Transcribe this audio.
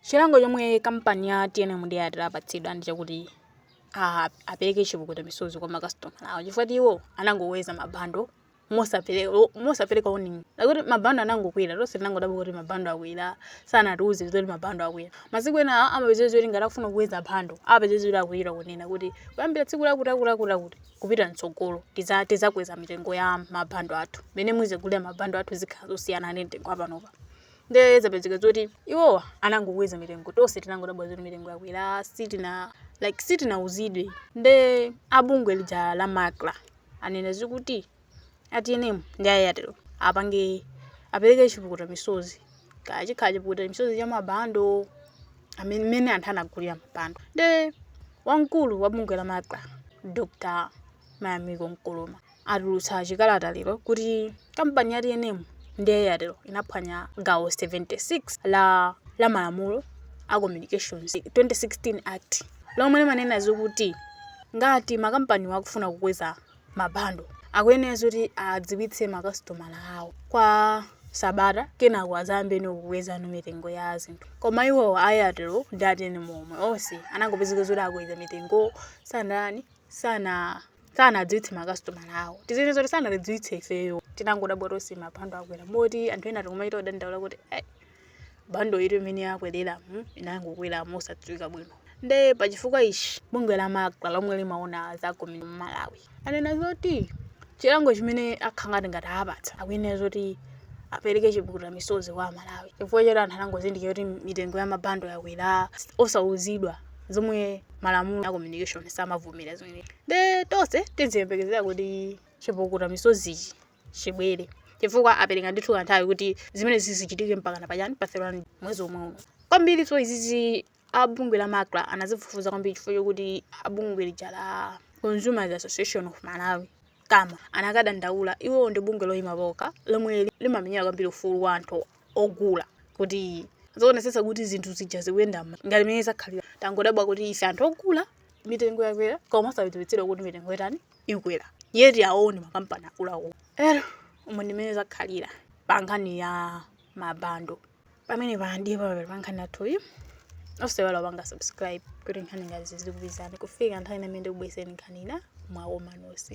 Chilango chomwe kampani ya tnm ndi Airtel apatsidwa ndi chakuti a- apereke chipukuta misozi kwa makasitomala awo chifukwa choti iwo anangokweza mabando mosapereka mosapereka warning yakuti mabando anangokwera tonse tinangodabwa kuti mabando akwera sanatiuze zoti mabando akwera masiku ena a- amapezeka zoti ngati akufuna kukweza bando amapezeka zoti akwera kunena kuti kuyambira tsiku lakuti akuti akuti akuti kupita mtsogolo tidza- tidzakweza mitengo ya mabando athu mene muzigulira mabando athu zikhala zosiyana ndi mtengo wapanopa Ndiye zapezeka zoti iwowa anangokweza mitengo, tonse tinangodabwa zoti mitengo yakwera, sitina like sitinauzidwe. Nde abungwe lija la Macra anena zokuti a TNM ndi a Airtel apange apereke chipukuta misozi kaya chikhala chipukuta misozi cha mabando amene mmene anthu anagulira mabando. Nde wamkulu wa bungwe la Macra Dr. Mayamiko Nkoloma atulutsa chikalata lero kuti kampani ya tnm ndi ya airtel inaphwanya gawo 76 la malamulo a communications 2016 act lomwe limanena zokuti ngati makampaniwo akufuna kukweza mabando akuyenera zoti adziwitse makasitomala awo kwa sabata kenako adzayambeno kukwezano mitengo ya zinthu koma iwowo a airtel ndi a tnm omwe onse anangopezeka zoti akweza mitengo sanani sana sanadziwitse makasitomala awo tizinena zoti sanatidziwitse ifeyo tinangodabwa tonse mabando akwera moti anthu ena tikumachita kudandaula kuti "Eh, bando iyi mmene yakwerera mm, inangokwera mosadziwika bwino nde pachifukwa ichi bungwe la macra lomwe limaona za communi m'malawi anena zoti chilango chimene akhangati ngati apatsa akuyenera zoti apereke chipukuta misozi kwa amalawi chifukwa choti anthu anangozindikira kuti mitengo ya mabando yakwera osauzidwa zomwe malamulo a communication samavomera zimenezo nde tonse tiziyembekezera kuti chipukuta misozichi chibwere chifukwa apereka ndithu kanthawi kuti zimenezi zichitike mpakana pachani pa 31 mwezi womwe uno kwambiri so izizi abungwe la macra anazifufuza kwambiri chifukwa chokuti abungwe lija la consumers association of malawi kama anakadandaula iwowo ndi bungwe loyima palokha lomwe limamenyera kwambiri ufulu wa anthu ogula kuti zoonetsetsa kuti zinthu zija zikuyenda ngati mmene zakhalira tangodabwa kuti ife anthu ogula mitengo yakwera koma osadziwitsidwa kuti mitengo yatani ikwera yet awo ndi makampani akuluakulu nde umo ndimene zakhalira pa nkhani ya mabando pamenepa ndi pamapeto pa nkhani yathuyi osaiwala kupanga subscribe kuti nkhani ngati izi zizikupezani kufika nthawi ina imene ndikubweretsereni nkhani ina mwa omanosi